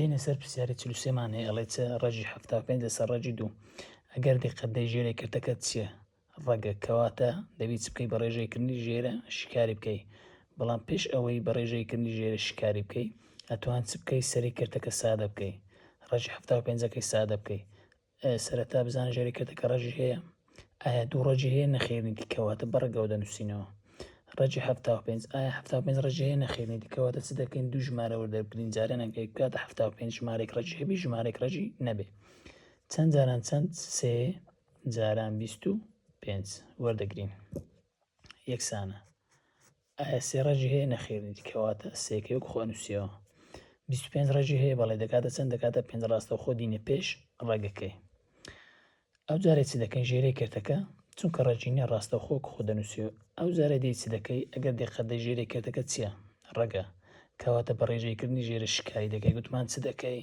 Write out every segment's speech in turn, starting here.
دێنە سەر پرسیاری چل و سێمان هەیە ئەڵێ چ ڕەجی حەفتا و پێنج لەسەر ڕەجی دوو ئەگەر دیقەت دەی ژێرەی کردەکە چیە ڕەگە کەواتە دەبی چ بکەی بە ڕێژەی کردنی ژێرە شکاری بکەی بەڵام پێش ئەوەی بە ڕێژەی کردنی ژێرە شکاری بکەی ئەتوان چ بکەی سەری کردەکە سادە بکەی ڕەجی حەفتا و پێنجەکەی سادە بکەی سەرەتا بزانە ژێری کەرتەکە ڕەجی هەیە ئایا دوو ڕەجی هەیە نەخێنی دیکەواتە بەڕگەوە دەنووسینەوە ڕەجی هەفتا و پێنج ئایا هەفتا و پێنج ڕەجی هەیە نەخێنی دیکەواتە چ دەکەین دوو ژمارە وەردەگرین جارێ نەکەی بکاتە هەفتا و پێنج ژمارێک ڕەجی هەبی ژمارێک ڕەجی نەبێ چەند جاران چەند سێ جاران بیست و پێنج وەردەگرین یەکسانە ئایا سێ ڕەجی هەیە؟ نەخێر نیت کەواتە سێکەی وەک خۆی نووسیەوە. بیست و پێنج ڕەجی هەیە؟ بەڵێ دەکاتە چەند؟ دەکاتە پێنج ڕاستەوخۆ دینە پێش ڕەگەکەی. ئەو جارێ چ دەکەین ژێرەی کەرتەکە چونکە ڕەجی نیە ڕاستەوخۆ وەک خۆ دەنووسیەوە ئەو جارێ دێی چ دەکەی ئەگەر دیقەت دەی ژێرەی کەرتەکە چیە؟ ڕەگە. کەواتە بە ڕێژەی کردنی ژێرە شکایی دەکەی گوتمان چ دەکەی؟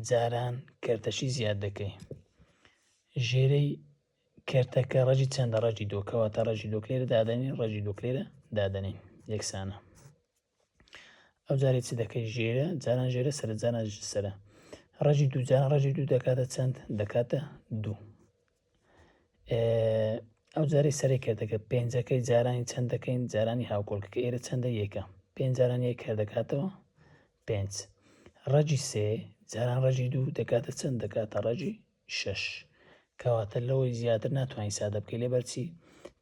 جاران کەرتەشی زیاد دەکەی. ژێرەی کەرتەکە ڕەجی چەندە ڕەجی دۆ کەواتە ڕەجی دۆک لێرە دادەنین ڕەجی دۆک لێرە دادەنین یەکسانە ئەو جارێ چ دەکەی ژێرە جاران ژێرە سەر جاران سەرە ڕەجی دوو جاران ڕەجی دوو دەکاتە چەند دەکاتە دوو ئەو جارەی سەری کردەکە پێنجەکەی جارانی چەند دەکەین جارانی هاوکۆڵکەکە ئێرە چەندە یەکە پێنج جاران یەک کار دەکاتەوە پێنج ڕەجی سێ جاران ڕەجی دوو دەکاتە چەند دەکاتە ڕەجی شەش کەواتە لەوەی زیاتر ناتوانی سادە بکەی لێ بەرچی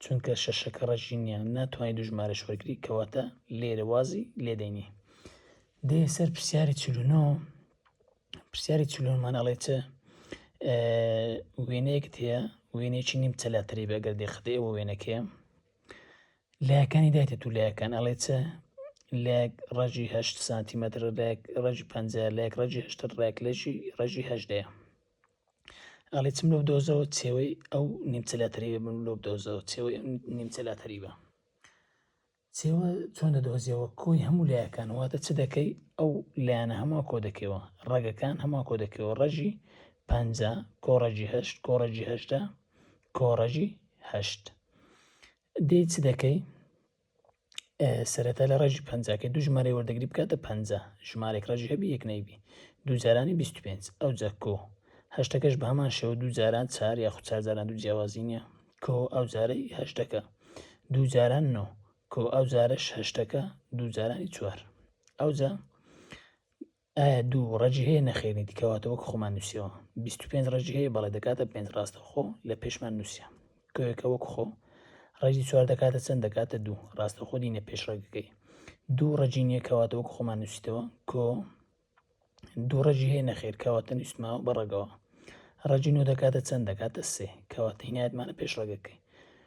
چونکە شەشەکە ڕەجی نیە ناتوانی دوو ژمارەش وەرگری کەواتە لێرە وازی لێ دەینی دێ سەر پرسیاری چل و نۆ پرسیاری چل و نۆمان ئەڵێ چ وێنەیەکت هەیە وێنێکی نیم چەلاتری بەگەر دێخدێ ئەوە وێنەکەیە لایەکانی دایتە دوو لایەکان ئەڵێ چ لایەک ڕەجی هەشت سانتیمەتر لایەک ڕەجی پەنج لایەک ڕەجی هەشتر ڕێک لەشی ڕەژی هەشدەیە ئەڵێ چم لەو دۆزەوە چێوەی ئەو نیمچە لە تەریبە بم لۆ دۆزەوە چێوەی نیمچە لە تەریبە چێوە چۆن دەدۆزیەوە کۆی هەموو لایەکان واتە چ دەکەی ئەو لایەنە هەموو کۆ دەکەوە ڕەگەکان هەموو کۆ دەکەوە ڕەژی پ کۆڕەجی هەشت کۆڕەجی هەشتا کۆڕەژی هەشت دێی چ دەکەی سەرەتا لە ڕێژی پەنجاکەی دوو ژمارەی وەردەگری بکاتە پەنج ژمارێک ڕێژی هەبی یەک نەیبی دوو جارانی 25 ئەو جا کۆ هەشتەکەش بە هەمان شێوە دوو جاران چار یاخود چار جاران دوو جیاوازی نییە کۆ ئەو جارەی هەشتەکە دوو جاران نۆ کۆ ئەو جارەش هەشتەکە دوو جارانی چوار ئەو جا ئایا دوو ڕەجی هەیە نەخێرنیتی کەواتە وەک خۆمان نووسیەوە بیست و پێنج ڕەجی هەیە بەڵێ دەکاتە پێنج ڕاستە خۆ لە پێشمان نووسە کۆیەکە وەک خۆ ڕێزی چوار دەکاتە چەند دەکاتە دوو ڕاستە خۆ دینە پێش ڕێگەکەی دوو ڕەجی نییە کەواتە وەک خۆمان نووسیتەوە کۆ دوو ڕەجی هەیە نەخێر کەواتە نووسماوە بەڕەگەوە ڕەجی نۆ دەکاتە چەند دەکاتە سێ کەواتە هینایەتمانە پێش ڕێگەکەی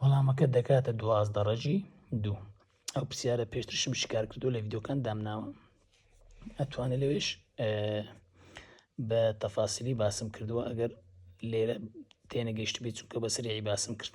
وەڵامەکەت دەکاتە دوازدە ڕەجی دوو ئەو پرسیارە پێشترشم شکار کردو لە ڤیددیوکان دامناوە ئەتوانێت لەوێش بە تەفاسیلی باسم کردووە ئەگەر لێرە تێنەگەشت بێت چونکە بەسەری باسم کرد